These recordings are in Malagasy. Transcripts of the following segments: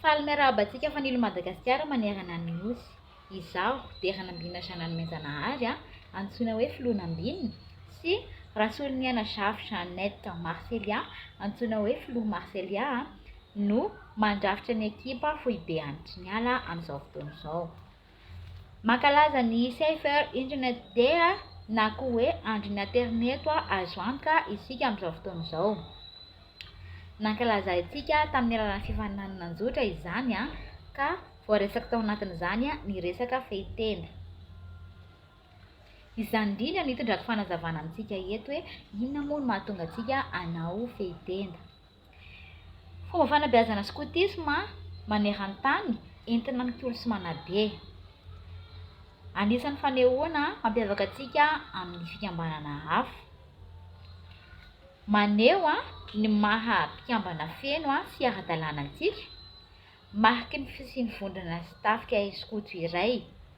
Faly miarahaba antsika fanilo Madagasikara manerana ny Nosy. Izaho, Deranambina Jeananne Mianjanahary, antsoina hoe Filohanambina, sy Rasoloniaina Jafy Jeannette Marcelia, antsoina hoe Filoha Marcelia, no mandrafitra ny ekipa foibe Andry Niala amin'izao fotoana izao. Mankalaza ny Safer Internet Day na koa hoe Andron'ny Aterineto Azo Antoka isika amin'izao fotoana izao. Nankalazaintsika tamin'ny alalan'ny fifaninanana an-jotra izany ka voaresaka tao anatin'izany ny resaka fehintenda. Izany indrindra no itondrako fanazavana amintsika eto hoe inona moa no mahatonga antsika hanao fehintenda. Fomba fanabeazana skotisma maneran-tany entina mikolo sy manabe. Anisan'ny fanehoana mampiavaka antsika amin'ny fikambanana hafa. Maneho ny maha mpikambana feno sy ara-dalàna antsika, mariky ny fisian'ny vondrona sy tafika skoto iray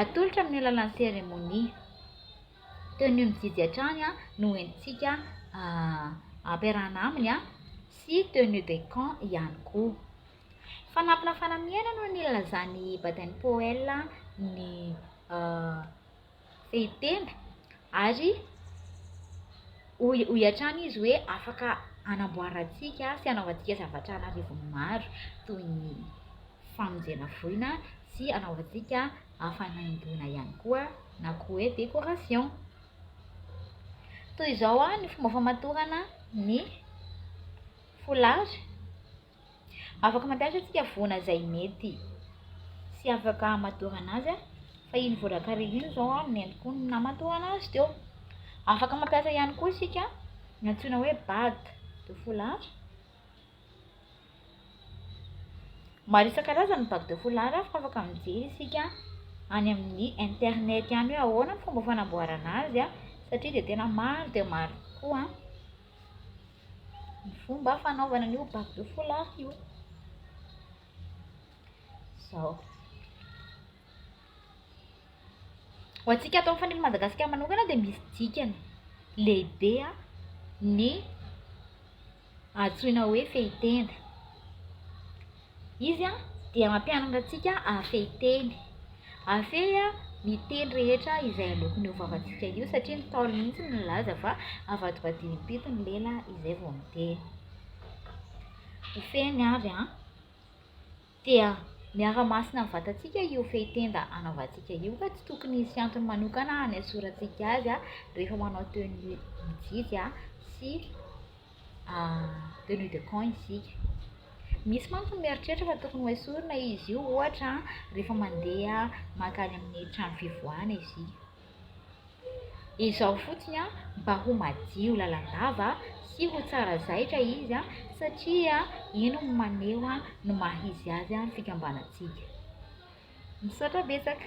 Atolotra amin'ny alalan'ny seremonia. Tenue mijijy hatrany no entintsika ampiarahana aminy sy tenue de camp ihany koa. Fanampina fanamiana no nilazan'i Baden-Powell ny fehitenda Ary hoy hoy hatrany izy hoe afaka hanamboarantsika sy hanaovantsika zavatra an'arivony maro toy ny famonjena voina sy hanaovantsika fanaingoana ihany koa na koa hoe décoration. Toy izao ny fomba famatorana ny foulard. Afaka mampiasa antsika voana izay mety sy afaka hamadorana azy fa iny voan-drakariva iny izao no nentin-ko namadorana azy teo. Afaka mampiasa ihany koa isika ny antsoina hoe bague de foulard. Maro isan-karazany ny bague de foulard fa afaka mijery isika any amin'ny internet any hoe ahoana ny fomba fanamboarana azy satria dia tena maro dia maro tokoa. Ny fomba fanaovana an'io bac de foulard io, izao. Ho antsika ato amin'ny Fanilo Madagasikara manokana dia misy dikany lehibe ny antsoina hoe fehitenda. Izy dia mampianatra antsika hahafehy teny. Hahafehy ny teny rehetra izay aloaky ny hovavantsika io satria ny Ntaolo mihitsy no nilaza fa avadibadiny impito ny lela izay vao miteny. Hofehiny avy an! Dia miara-masina amin'ny vatantsika io fehy tenda anaovantsika io ka tsy tokony hisy antony manokana hanesorantsika azy rehefa manao tenue ny ankizy sy de louis de camp isika. Misy mantsy ny mieritreritra fa tokony hoesorina izy io ohatra rehefa mandeha mankany amin'ny trano fivoahana isika. Izao fotsiny an, mba ho madio lalandava sy ho tsara zaitra izy an, satria iny no maneho an ny maha izy azy ny fikambanantsika. Misaotra betsaka.